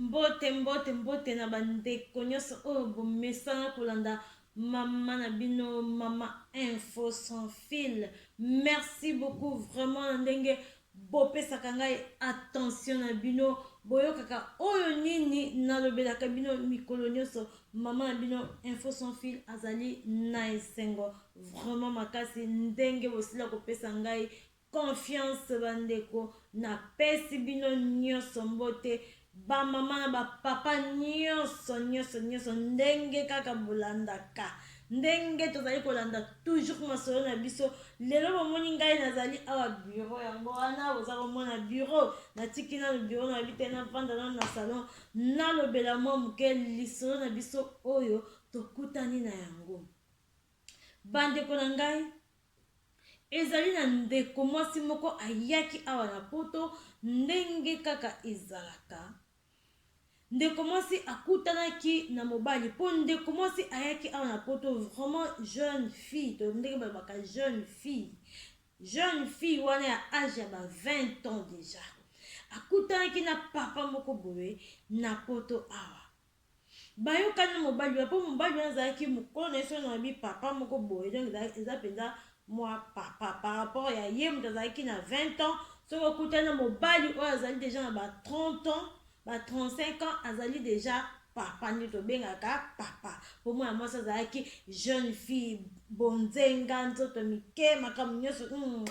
Mbote mbote mbote na ba ndeko nionso oyo bomesana kolanda mama na bino mama info sans fil merci beaucoup vraiment na ndenge bopesaka ngai attention na bino boyokaka oyo nini nalobelaka bino mikolo nyonso mama na bino info sans fil azali na esengo vraiment makasi ndenge bosila kopesa ngai Confiance ba ndeko na pesi bino nioso mbote ba maman na ba papa nioso nioso nioso ndenge kaka bolandaka ndenge tozali kolanda toujours masolo na biso lelo bomoni ngai nazali awa bureau yango wana boza komona bureau natiki nanu bureau na bite na vanda nanu na salon nalobela mwa moke lisolo na biso oyo tokutani na yango bandeko na ngai Ezali na ndeko mwasi moko ayaki awa na poto ndenge kaka ezalaka ndeko mwasi akutanaki na mobali mpo ndeko mwasi ayaki awa na poto vraiment jeune fille to ndenge balobaka jeune fille jeune fille wana ya age ya ba 20 ans déjà akutanaki na papa moko boye na poto awa Bayoka na mobali wana po mobali wana azalaki mokolo na ye soki nalobi papa moko boye donc eza mpenza mwa papa par rapport ya ye moto azalaki na 20 ans soki okutani na mobali oyo azali deja na ba 30 ans ba 35 ans azali deja papa nde tobengaka papa po mwana mwasi azalaki jeune fille bonzenga nzoto mike makambo nyonso mm.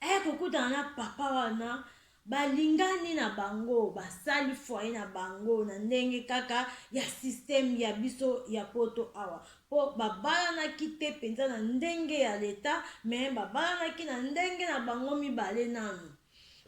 Aya kokutana na papa wana balingani na bango basali foye na bango na ndenge kaka ya systeme ya biso ya poto awa mpo babalanaki te mpenza na ndenge ya leta me babalanaki na ndenge na bango mibale nano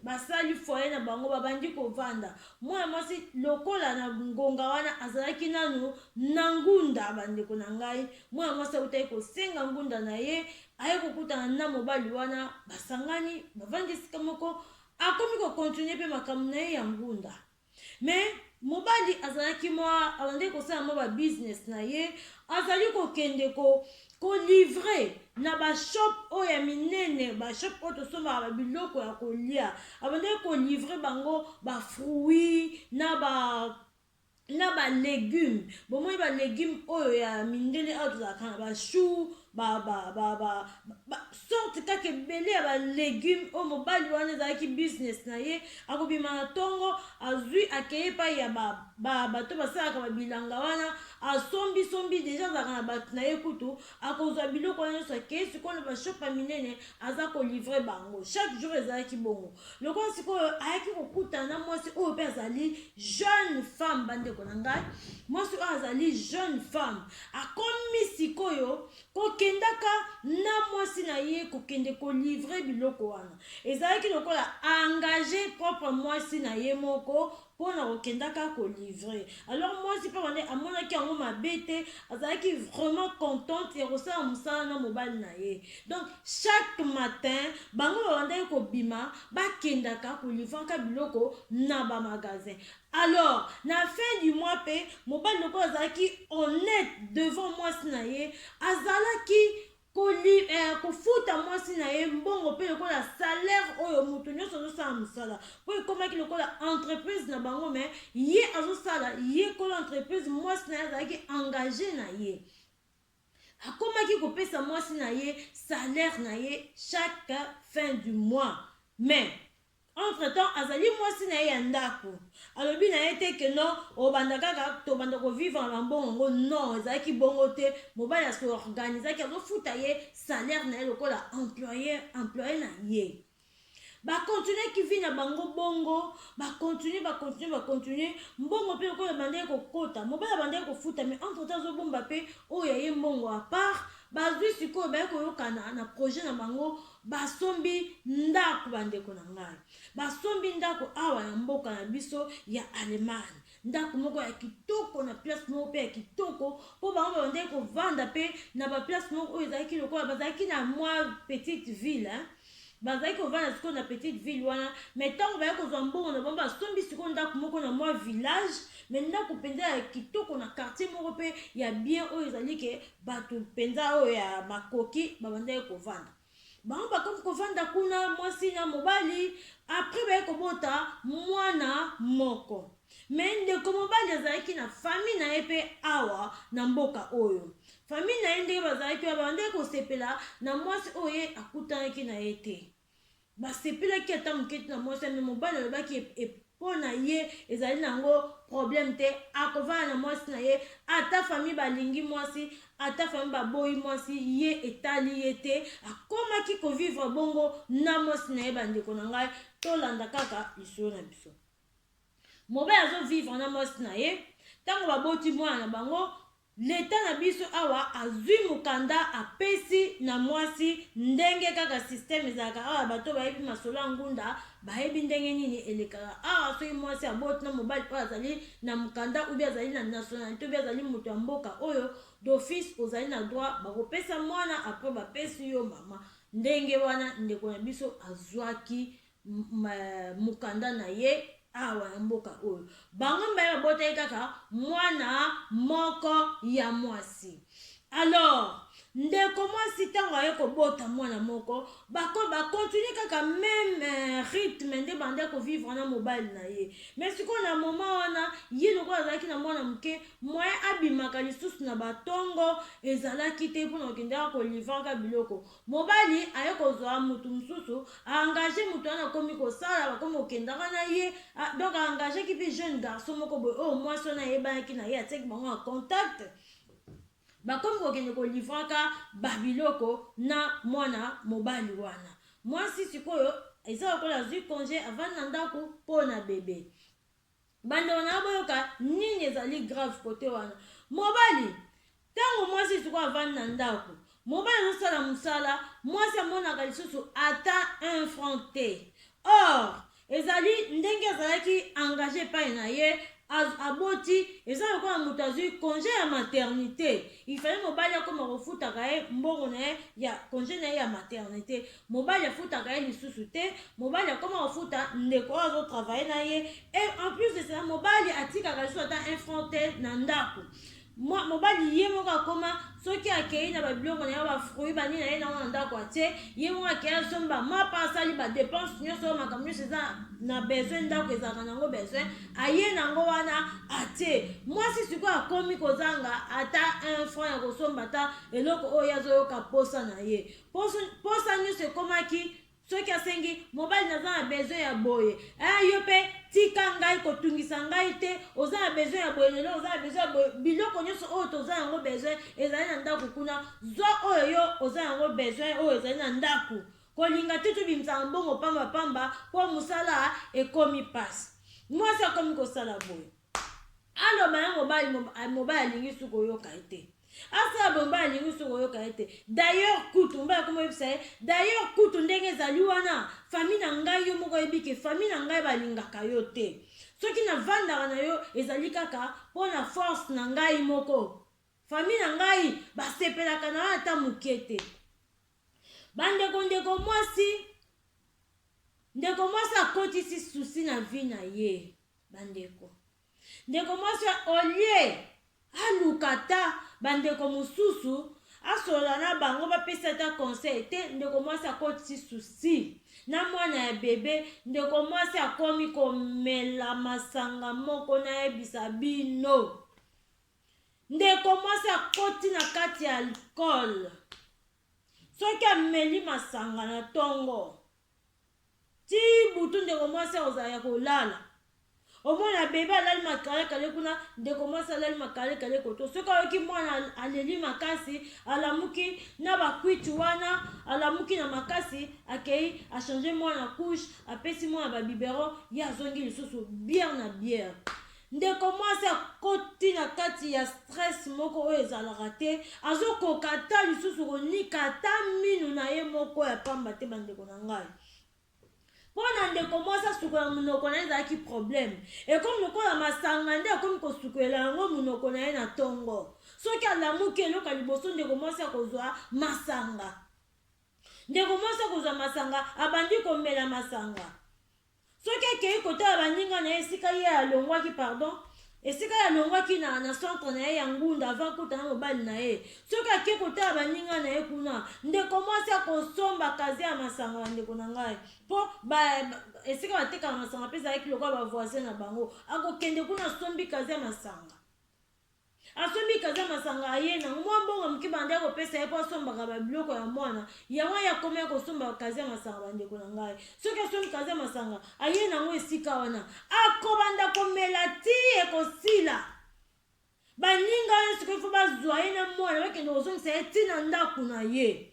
basali foye na bango babandi kovanda mwana mwasi lokola na ngonga wana azalaki nano na ngunda bandeko na ngai mwana mwasi autaki kosenga ngunda na ye Aye kokutana na mobali wana, basangani, bavandi esika moko, akomi ko continuer pe makambo na ye ya ngunda. Mais, mobali azalaki mwa, abandaki kosala mwa ba business na ye, azali kokende ko, ko livrer na ba shop oyo ya minene, ba shop oyo tosombaka ba biloko ya kolia. Abandaki ko livrer bango ba fruits, na ba na ba legumes bomoni ba legumes oyo ya mindele awa tozalaka na ba choux ba ba ba ba ba sorte kaka ebele ya ba legumes oyo mobali wana ezalaki business na ye akobima na tongo azwi akei epai ya ba ba bato basalaka ba bilanga wana asombi sombi deja azalaka na bato na ye kutu akozwa biloko wana nyonso akei sikoyo na bashop ya minene aza kolivre bango chaque jour ezalaki bongo lokola sikoyo ayaki kokutana na mwasi oyo mpe azali jeune femme bandeko na ngai mwasi oyo azali jeune femme akomi sikoyo kokendaka na mwasi na ye kokende kolivre biloko wana ezalaki lokola engage propre mwasi na ye moko po na ko kendaka ko livre alors muasi pe wana amonaki yango mabe te azalaki vraiment contente ya ko sala musala na mobali na ye donc chaque matin bango ba bandaki ko bima ba kendaka ko livraka biloko na ba magasin alors na fin du mois pe mobali lokola azalaki honnete devant muasi na ye azalaki Kofuta mwasi na ye mbongo mpe lokola salaire oyo moto nyonso azosala mosala mpo ekomaki lokola entreprise na bango me ye azosala ye kolo entreprise mwasi na ye azalaki engage na ye akomaki kopesa mwasi na ye salaire na ye chaque fin du mois mais Entre temps azali mwasi na ye ya ndaku alobi na ye te que non obanda kaka tobanda ko vivre na ba mbongo yango non ezalaki bongo te mobali a se organisaki azo futa ye salaire na ye lokola employe employe na ye ba continuaki vie na bango bongo ba continue ba continue ba continue mbongo pe lokola ebandaki kokota mobali abandaki kofuta mais entre temps azobomba pe oyo ya ye mbongo a part bazwi sikoyo baye koyokana na projet na bango Basombi ndako bandeko na ngai. Basombi ndako awa na mboka na biso ya Allemagne. Ndako moko ya kitoko na place moko pe ya kitoko po bango babandaki kovanda pe na ba place moko oyo ezalaki lokola bazalaki na mwa petite ville hein? bazalaki kovanda sikoyo na petite ville wana me ntango bayaki kozwa mbongo na bango basombi sikoyo ndako moko na mwa village me ndako mpenza ya kitoko na quartier moko mpe ya bien oyo ezali ke Bato mpenza oyo ya makoki babandaki kovanda. Bango bakomi kovanda kuna, mwasi na mobali, apres baye kobota mwana moko. Me ndeko mobali azalaki na fami na ye mpe awa na mboka oyo. Fami na ye ndenge bazalaki wana, babandaki kosepela na mwasi oyo ye akutanaki na ye te. Basepelaki ata moke te na mwasi wana, mais mobali alobaki e, po na ye ezali na yango probleme te, akovanda na mwasi na ye, ata famille balingi mwasi, ata famille baboyi mwasi, ye etali ye te, akomaki ko vivre bongo na mwasi na ye. Bandeko na ngai, tolanda kaka lisolo na biso. Mobali azo vivre na mwasi na ye, tango baboti mwana na bango, L'etat na biso awa azui mukanda apesi na mwasi ndenge kaka système ezalaka awa bato oyo bayebi masolo ya ngunda bayebi ndenge nini elekaka awa soki mwasi aboti na mobali oyo azali na mukanda ou bien azali na nationalite ou bien azali moto ya mboka oyo d'office ozali na droit bakopesa mwana après bapesi yo mama ndenge wana ndeko na biso azuaki mokanda na ye awa na mboka oyo bango mibale babotaki kaka mwana moko ya mwasi alors ndeko mwasi ntango aye kobota mwana moko bakontinue kaka meme euh, rythme nde banda kovivre na mobali na ye me sikoyo na moma wana ye lokola azalaki na mwana moke moye abimaka lisusu na batongo ezalaki te mpona kokendaka kolivraka biloko Mobali aye kozua mutu mususu a engage mutu wana akomi kosala bakomi kokendaka na ye a donc a engage ki pe jeune garçon moko boye oyo mwasi wana ayebanaki na ye atiaki bango en contact bakomi kokende ko livraka ba biloko na mwana mobali wana mwasi sikoyo eza lokola azui conge avandi na ndako po na bebe Bandeko na ngai boyoka nini ezali grave kote wana. Mobali, tango mwasi sikoyo avandi na ndako, mobali azosala mosala, mwasi amonaka lisusu ata un franc te. Or, ezali ndenge azalaki engage epai na ye, aboti, eza lokola moto azwi conge ya maternite. Il fallait mobali akoma kofutaka ye mbongo na ye ya conge na ye ya maternite. mobali afutaka ye lisusu te mobali akoma kofuta ndeko oyo azo travaille na ye et en plus de cela mobali atikaka lisusu ata un franc te na ndako Mwa- mobali ye moko akoma soki akei na babiloko na ye bafruit banini na ye nango na ndako atie ye moko akei asombi bamapa asali badepense nyonso oyo makambo nyonso eza na besoin ndako ezalaka nango besoin aye nango wana atie mwasi sikoyo akomi kozanga ata un franc ya kosomba ata eloko oyo ye azoyoka mposa na ye posa nyonso ekomaki soki asengi mobali naza na besoin ya boye eh, yo mpe tika ngai kotungisa ngai te oza na besoin ya boye lelo oza na besoin ya boye biloko nyonso oyo toza yango besoin ezali na ndako kuna zwa oyo yo oza yango besoin oyo ezali na ndako kolinga te tobimisaka mbongo pambapamba mpo mosala ekomi mpasi mwasi akomi kosala boye Aloba ye mobali mobali alingi su koyoka ye te. Asala boye mobali alingi su koyoka ye te. D'ailleurs kutu mobali akomi oyebisa ye d'ailleurs kutu ndenge ezali wana famille na ngai yo moko oyebi ke famille na ngai balingaka yo te. Soki navandaka na yo ezali kaka mpo na force na ngai moko. Famille na ngai basepelaka na yo ata moke te. Bandeko ndeko mwasi ndeko mwasi akotisi susi na vie na ye. bandeko. Ndeko mwasi au lieu aluka ata bandeko mosusu asolola na bango bapesi ata conseil te, ndeko mwasi akotisi susi na mwana ya bebe, ndeko mwasi akomi komela masanga moko nayebisa bino. Ndeko mwasi akoti na kati ya alcool. Soki ameli masanga na ntongo ti butu, ndeko mwasi akozala ya kolala. Omona bebe alali makalekale kuna, ndeko mwasi alali makalekale koto. Soki ayoki mwana aleli makasi, alamuki na bakwiti wana, alamuki na makasi, akei achange mwana couche, apesi mwana babiberon, ye azongi lisusu bière na bière. Ndeko mwasi akoti na kati ya stress moko oyo ezalaka te, azokoka ata lisusu konika ata minu na ye moko ya pamba te bandeko na ngai. Mpo na ndeko mwasi asukola monoko na ye ezalaki probleme, ekomi lokola masanga nde akomi kosukolela yango monoko na ye na tongo. Soki alamuki eloko ya liboso ndeko mwasi akozwa masanga. Ndeko mwasi akozwa masanga, abandi komela masanga. Soki akeyi kotala baninga na ye esika ye alongwaki pardon esika ye alongwaki na, na centre na ye ya ngunda avant kuta na mobali na ye soki ake kotala baninga na ye kuna ndeko mwasi akosomba kaze ya masanga bandeko na ngai mpo ba, ba, esika batekaka masanga mpe ezalaki lokola bavoisin na bango akokende kuna asombi kaze ya masanga Asombi kaza masanga aye nango mwa mbongo moke banda ya kopesa ye po asombaka ba biloko ya mwana yango aye akoma ya kosomba kaza ya masanga bandeko na ngai soki asombi kaza ya masanga aye nango esika wana akobanda komela ti ekosila baninga ye sikoyo fo bazwa ye na mwana bakende kozongisa ye ti na ndako na ye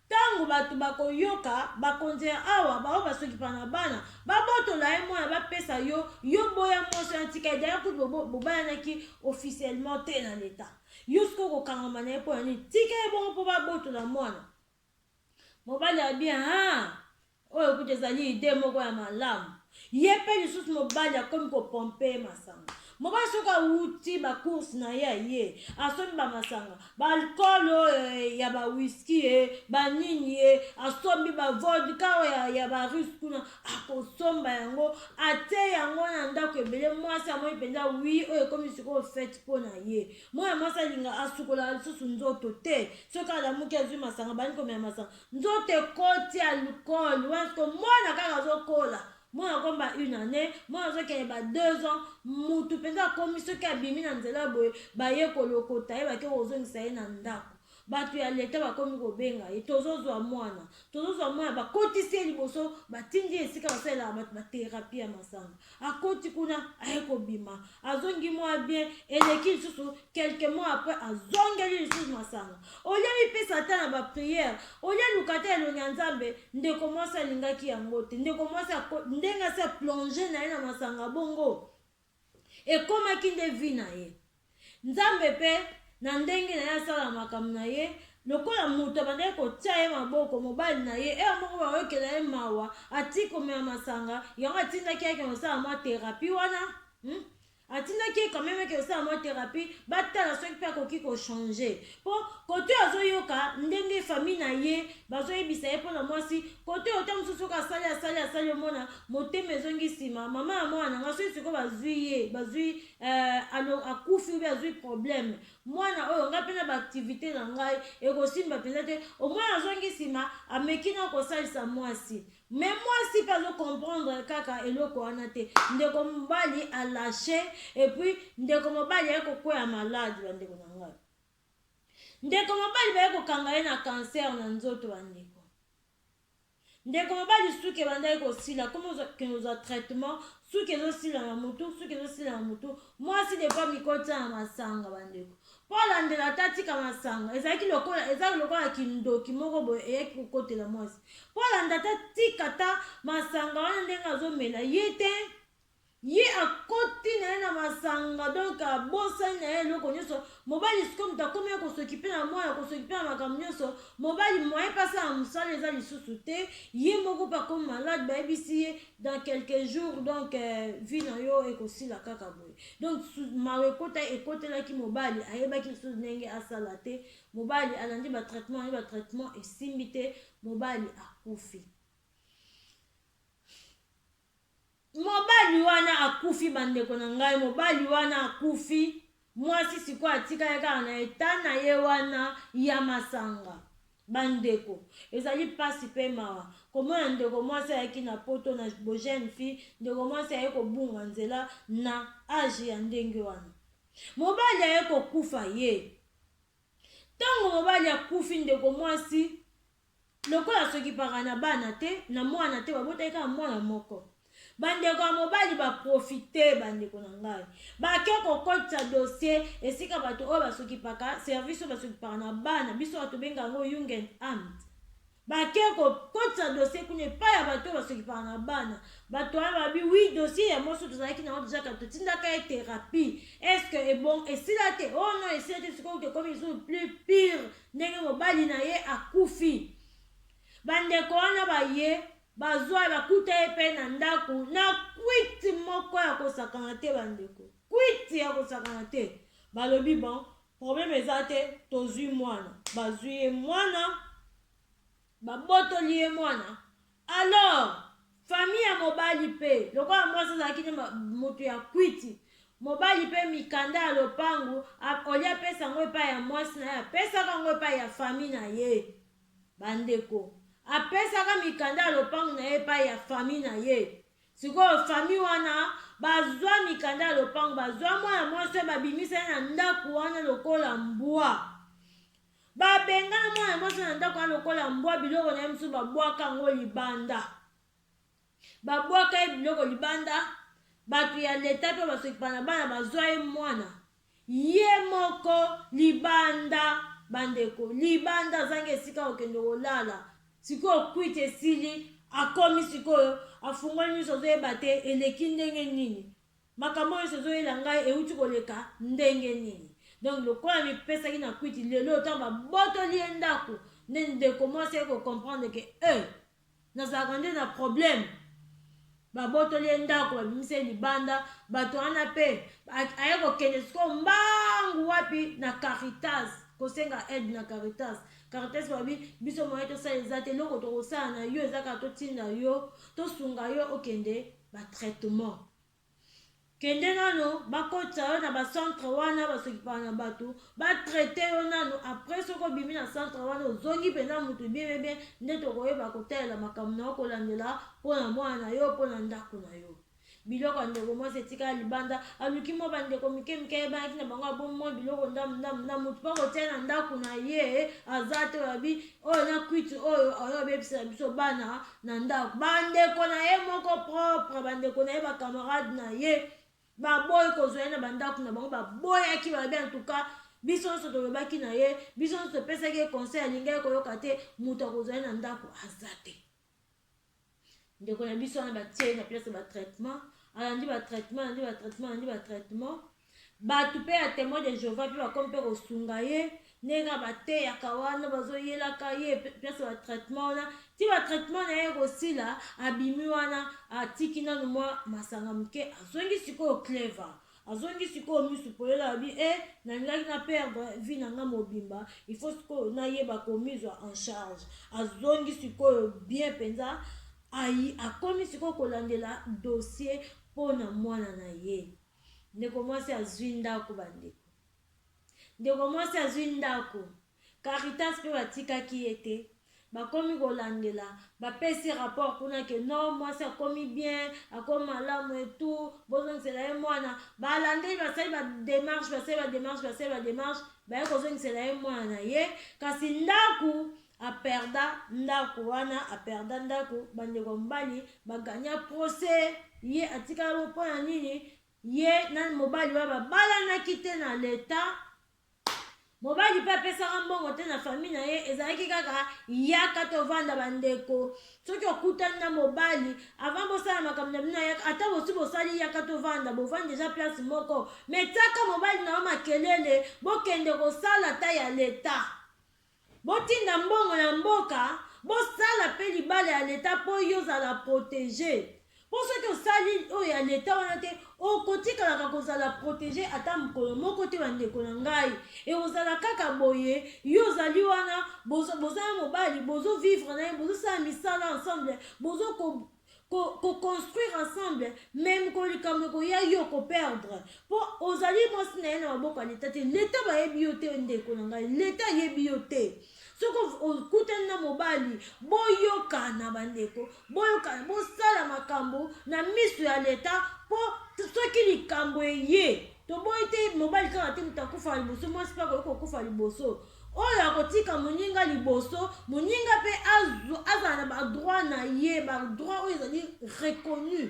Tango bato bakoyoka, bakonzi ya awa, baoyo basokipa na bana, babotola ye mwana, bapesa yo, yo boya mwasi wana, tika ye, d'ailleurs kutu bobo, bobalanaki officiellement te na l'Etat. Yo sikoyo okokangama na ye mpo na nini? Tika ye bongo mpo babotola mwana. Mobali alobi, Haa! Oyo kutu ezali idee moko ya malamu. Ye pe lisusu mobali akomi ko pomper ye masanga. Mobali soki awuti ba courses na ye aye, asombi ba masanga, ba alcool oyo eh, ya ba whisky eh, ba nini eh, asombi ba vodka oyo ya, ya ba russe kuna, akosomba yango, atie yango na ndako ebele, mwasi amoni penza oui, oyo ekomi sikoyo fete po na ye. Mwana mwasi alinga, asukolaka lisusu nzoto te. Soki alamuki azui masanga, abandi komela masanga, nzoto ekoti alcool wana siko mwana kaka azokola mwana akomba une année mwana azokende ba deux ans mutu mpenza akomi soki abimi na nzela boye baye kolokota ye bake kozongisa ye na ndako bato ya leta bakomi kobenga ye tozozwa mwana tozozwa mwana bakotisi ye liboso batindi ye esika basalelaka bato baterapi ya masanga akoti kuna aye kobima azongi mwa bien eleki lisusu quelque mois après azongeli lisusu masanga olie mipesa ata na bapriere olie luka ata elongi ya nzambe ndeko mwasi alingaki yango te ndeko mwasi ndenge asi aplonge na ye na masanga bongo ekomaki nde vi na ye Nzambe mpe, na ndenge na Ye, asalaka makambo na Ye, lokola moto abandaki kotia ye maboko, mobali na ye, heure moko bayokela ye mawa, atiki komela masanga, yango atindaki ye akende kosala mwa therapie wana, hmm? atindaki ye quand meme eke kosala mwa therapie, batala soki mpe akoki kochanger, mpo kote oyo azoyoka ndenge famille na ye bazoyebisa ye mpo na mwasi, kote oyo ta mosusu soki asali asali asali, omona motema ezongi nsima, mama ya mwana na ngai soki sikoyo bazwi ye, bazwi eh, alo akufi obi azwi problème mwana oyo ngai mpe na baaktivité na ngai ekosimba mpenza te omoi azongi nsima ameki na kosalisa mwasi me mwasi mpe azokomprendre kaka eloko wana te ndeko mobali alashe epuis ndeko mobali aye kokwea malade bandeko na ngai ndeko mobali baye kokanga ye na kanser na nzoto bandeko Ndeko mobali suki ebandaki kosila comme ozokende kozwa traitement suki ezosila na mutu suki ezosila na mutu mwasi depuis amikotia na masanga bandeko mpo alandela ata atika masanga ezalaki lokola ezalaki lokola kindoki moko boye eyaki kokotela mwasi mpo alanda ata tika ata masanga wana ndenge azomela ye te Ye akoti naye na masanga donc abosani naye eloko nioso mobali sikoyo moto akomi ya kosokipe na mwana kosokipe na makambo nioso mobali moyen pe asala mosala eza lisusu te ye moko pe akomi malade bayebisi ye dans quelques jours donc vie na yo ekosila kaka boye donc mawa ekota ekotelaki mobali ayebaki lisusu ndenge asala te mobali alandi ba traitement alandi ba traitement esimbi te mobali akufi Mobali wana akufi bandeko na ngai mobali wana akufi mwasi sikoyo atikali kaka na eta na ye wana ya masanga bandeko ezali mpasi mpe mawa komona ndeko mwasi ayaki na poto na bojeune fille ndeko mwasi aye kobunga nzela na age ya ndenge wana mobali aye kokufa ye ntango mobali akufi ndeko mwasi Lokola asokipaka na bana te, na mwana te, babotaki kaka mwana moko. Bandeko ya mobali ba profite bandeko na ngai. Bake kokotisa dossier esika bato oyo basokipaka, service oyo basokipaka na bana, biso bato benga yango Jugendamt. Bake kokotisa dossier kuna epai ya bato oyo basokipaka na bana. Bato wana babi oui dossier ya moso tozalaki na deja kaka totindaka ye therapie. Est-ce que ebon esila te? Oh non esila te sikoyo tokomi lisusu plus pire. ndenge mobali na ye akufi. Bandeko wana baye bazwa ye bakuta ye mpe na ndako na kwiti moko ya kosakana te, bandeko, kwiti ya kosakana te. Balobi bon, probleme eza te, tozwi mwana. Bazwi ye mwana, babotoli ye mwana. Alors famille ya mobali pe lokola mwasi azalaki nde moto ya kwiti, mobali pe mikanda ya lopangu olie apesa yango epai ya mwasi na ye apesaka yango epai ya famille na ye. Bandeko, apesaka mikanda ya lopangu na ye epai ya famille na ye. Sikoyo famille wana bazwa mikanda ya lopangu, bazwa mwana mwasi oyo babimisa ye na ndako wana lokola mbwa. Ba bengana mwana mwasi na ndako wana lokola mbwa biloko na ye mosusu babwaka yango libanda. Babwaka ye biloko libanda, bato ya leta mpe basokipa na bana bazwa ye mwana ye moko libanda, bandeko libanda, azangi esika kokende kolala. Sikoyo kwiti esili, akomi sikoyo afungoli miso azoyeba te eleki ndenge nini. Makambo oyo nionso ezoyela ngai ewuti koleka ndenge nini? Donc lokola amipesaki na kwiti, lelo oyo tango babotoli ye ndaku nde ndeko mwasi aye ko comprendre que euh! Nazalaka nde na problème? Babotoli ye ndaku, babimisi ye libanda, batu wana pe aye kokende sikoyo mbangu wapi? Na caritas kosenga aide na caritas, caritas balobi biso moyen tosala eza te, eloko tokosala na yo eza kaka totinda yo, tosunga yo okende ba traitement kende nano bakotisa yo na ba centre wana basokipaka na bato ba traite yo nano après soki obimi na centre wana ozongi mpenza moto bien bien bien nde tokoyeba kotalela makambo na yo kolandela mpo na mwana na yo mpo na ndako na yo biloko ya ndeko mwasi etikala libanda aluki mwa bandeko mike mike ayebanaki na bango abomi mwa biloko ndambu ndambu na moto mpo akotia na ndako na ye aza te oyabi oyo na kwiti oyo oyo abebisela biso bana na ndako ba ndeko na ye moko propre ba ndeko na ye ba camarade na ye baboyi kozwa ye na bandako na bango baboyaki balobi antuka biso nyonso tolobaki na ye biso nyonso topesaki ye conseil alingaki koyoka te moto akozwa ye na ndako aza te ndeko na biso wana batie ye na place ya batraitement alandi batraitement alandi batraitement alandi batraitement batu pe ya temoin de Jehovah pe bakomi pe kosunga ye ndenge kaka bateyaka wana bazoyelaka ye place ba traitement wana ti ba traitement na ye ekosila abimi wana atiki nanu mwa masanga moke azongi sikoyo clever azongi sikoyo misu polele alobi e eh, nalingaki na perdre vie na nga mobimba il faut sikoyo nayeba komizwa en charge azongi sikoyo bien mpenza akomi sikoyo kolandela dossier mpo na mwana na ye Ndeko mwasi azui ndako ba ndeko. Ndeko mwasi azui ndako. Caritas pe batikaki ye te. Bakomi kolandela, bapesi rapport kuna que non mwasi akomi bien, akomi malamu et tout, bozongisela ye mwana. Balandeli basali ba demarches, basali ba demarches, basali ba demarches, baye kozongisela ye mwana na ye, kasi ndako A perda ndaku wana a perda ndaku ba ndeko ya mobali ba gagna procès ye atikala bongo pona nini ye na mobali wana ba balanaki te na l'etat mobali pe apesaka mbongo te na famille na ye ezalaki kaka yaka tovanda ba ndeko soki okutani na mobali avant bosala makambo na bino yaka ata bosi bosali yaka tovanda bovandi deja place moko me tiaka mobali na yo makelele bokende kosala ata ya l'etat Botinda mbongo na mboka bosala pe libala ya l'etat po yo ozala protege po soki osali oyo ya l'etat wana te okotikalaka kozala protege ata mokolo moko te bandeko na ngai ekozala kaka boye yo ozali wana boza na mobali bozo vivre na ye bozosala misala ensemble bozo ko, ko construire ensemble mais mokolo likambo ekoya yo ko perdre mpo ozali mwasi na ye na maboko ya leta te leta bayebi yo te ndeko na ngai leta ayebi yo te soki okutani na mobali boyokana bandeko boyokana bosala makambo na miso ya leta mpo soki likambo eye toboyi te mobali kaka te moto akufa liboso mwasi mpe akoki kokufa liboso Oyo akotika moninga liboso, moninga mpe azala na ba droit na ye, ba droit oyo ezali reconnu.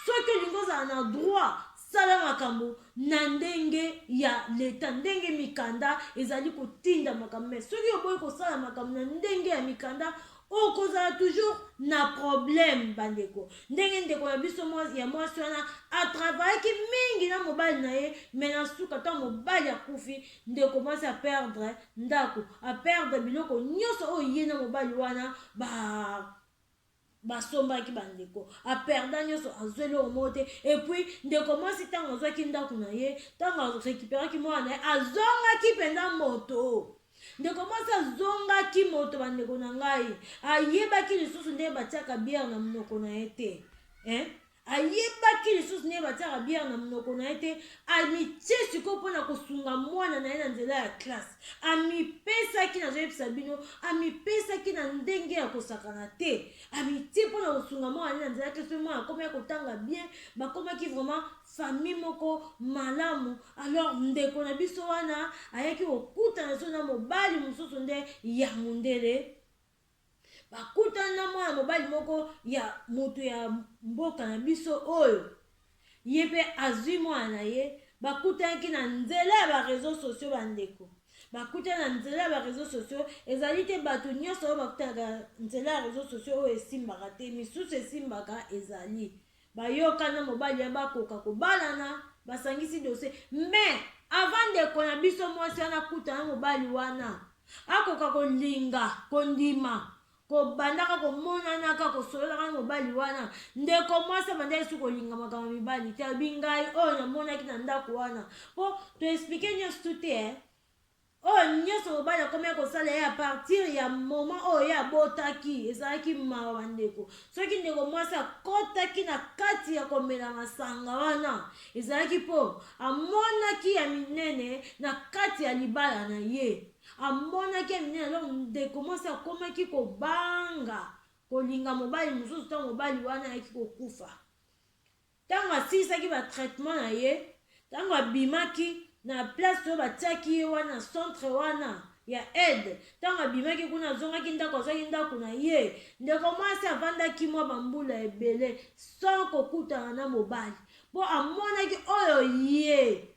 Soki olingi ozala na droit, sala makambo na ndenge ya leta, ndenge mikanda ezali kotinda makambo. Mais soki oboyi kosala makambo na ndenge ya mikanda, okozala toujours na problème bandeko ndenge ndeko na biso ya mwasi wana atravayaki mingi na mobali na ye me na suka ntango mobali akufi Ndeko mwasi a perdre ndaku, a perdre biloko nionso oyo ye na mobali wana ba basombaki bandeko a perda nionso azwa eloko moko te epuis ndeko mwasi ntango azwaki ndako na ye ntango arecuperaki mwana na ye azongaki mpenza moto ndeko mwasi azongaki moto bandeko na ngai ayebaki lisusu ndenge batiaka biere na monoko na ye te eh? Ayebaki lisusu ndenge batiaka bière na monoko na ye te, amitie sikoyo mpo na kosunga mwana na ye na nzela ya classe. Amipesaki, nazoyebisa bino, amipesaki na ndenge ya kosakana te. Amitie mpo na kosunga mwana na ye na nzela ya classe, mpe mwana akomaki kotanga bien, bakomaki vraiment famille moko malamu. Alors ndeko na biso wana ayaki kokutana lisusu na mobali mosusu nde ya mundele, Bakutana na mwana mobali moko ya moto ya mboka na biso oyo ye mpe azwi mwana na ye. Bakutanaki na nzela ya ba reseaux sociaux ba ndeko. Bakutana na nzela ya ba reseaux sociaux, ezali te bato nyonso oyo bakutanaka nzela ya reseaux sociaux oyo esimbaka te, misusu esimbaka ezali. Bayoka na mobali ya bakoka kobalana, basangisi dossier mais avant ndeko na biso mwasi wana akutana na mobali wana akoka kolinga kondima kobandaka komonanaka kosololaka na mobali wana ndeko mwasi abanda yesu kolinga makambo ya mibali te alobi ngai oyo namonaki na ndako wana mpo toexplike nyonso tu te eh? Oyo nioso mobali akomaki kosala ye apartir ya moment oyo ye abotaki ezalaki mawa bandeko soki ndeko mwasi akotaki na kati ya komela masanga wana ezalaki mpo amonaki ya minene na kati ya libala na ye amonaki ya minene donc ndeko mwasi akomaki kobanga kolinga mobali mosusu ntango mobali wana ayaki kokufa Tango asilisaki ba traitement na ye, tango abimaki na place oyo batiaki ye wana centre wana ya aide, tango abimaki kuna azongaki ndako azwaki ndako na ye, ndeko mwasi avandaki mwa ba mbula ebele sans kokutana na mobali mpo amonaki oyo ye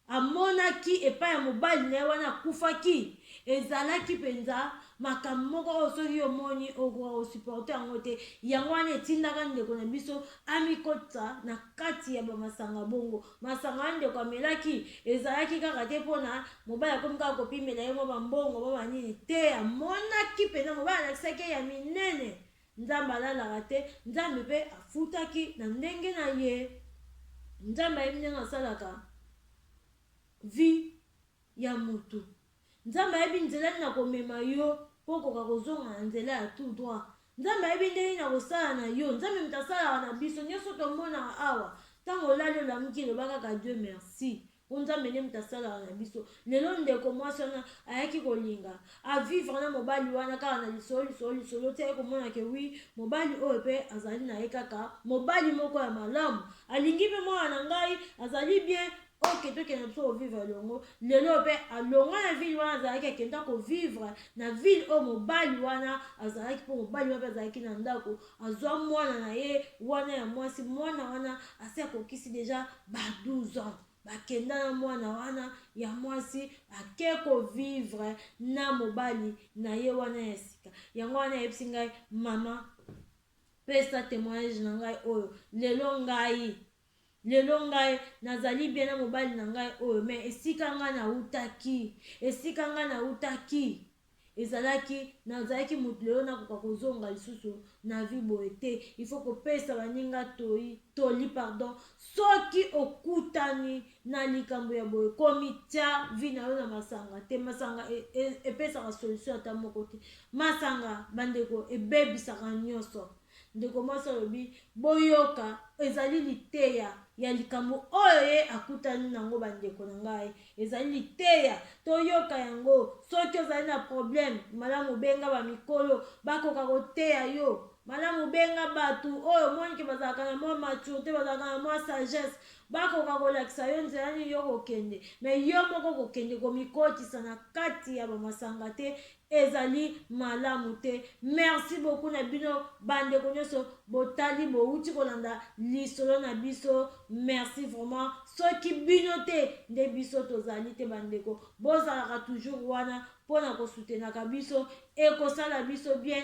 amonaki epai ya mobali na ye wana akufaki ezalaki mpenza makambo moko oyo soki omoni okoka kosuporte yango te. Yango wana etindaka ndeko na biso amikotisa na kati ya bamasanga bongo. Masanga wana ndeko amelaki ezalaki kaka te mpo na mobali akomi kaka kopimela ye mwa bambongo mwa banini te, amonaki mpenza mobali alakisaki ye ya minene Nzambe alalaka te, Nzambe pe afutaki na ndenge na ye. Nzambe ayebi ndenge asalaka vie ya mutu. Nzambe ayebi nzela nini akomema yo po okoka kozonga na nzela ya tout droit. Nzambe ayebi ndenge nini akosala na yo. Nzambe mutu asalaka na biso. Nioso tomonaka awa, tango olali olamuki, loba kaka Dieu merci. po nzambe nde moto asalaka na biso lelo ndeko mwasi wana ayaki kolinga avivre na mobali wana kaka na lisolo lisolo lisolo ti aye komona ke wi mobali oyo pe azali na ye kaka mobali moko ya malamu alingi pe mwana na ngai azali bien oke tokenda biso kovivre elongo lelo pe alonga na ville wana azalaki akenda kovivre na ville oyo mobali wana azalaki mpo mobali wana pe azalaki na ndako Azua muana na ye wana ya muasi muana wana asi akokisi dejà ba 12 ans ba kenda na muana wana ya muasi ake ko vivre na mobali naye wana ya sika yango wana ayebisi ngai maman pesa temoignage na ngai oyo lelo ngai Lelo ngai nazali bien na mobali na ngai oyo mais esika ngai nawutaki, esika ngai nawutaki ezalaki nazalaki mutu lelo nakoka kozonga lisusu na vie boye te il faut kopesa baninga toyi toli pardon soki okutani na likambo ya boye komitia vie na yo na masanga te masanga e, e, epesaka solution ata moko te masanga bandeko ebebisaka nioso Ndeko mwasi alobi, Boyoka, ezali liteya ya likambo oyo ye akutani na yango, bandeko na ngai. Ezali liteya. Toyoka yango. Soki ozali na probleme, malamu obenga bamikolo, bakoka koteya yo. Malamu obenga bato oyo omoni ke bazalaka na mwa maturite, bazalaka na mwa sagesse, bakoka kolakisa yo nzela nini yo kokende. Me yo moko kokende komikotisa na kati ya bamasanga te, Ezali malamu te. Merci beaucoup na bino ba ndeko nionso botali bowuti kolanda lisolo na biso merci vraiment soki bino te nde biso tozali te ba ndeko bozalaka toujours wana pona ko soutenaka biso ekosala biso bien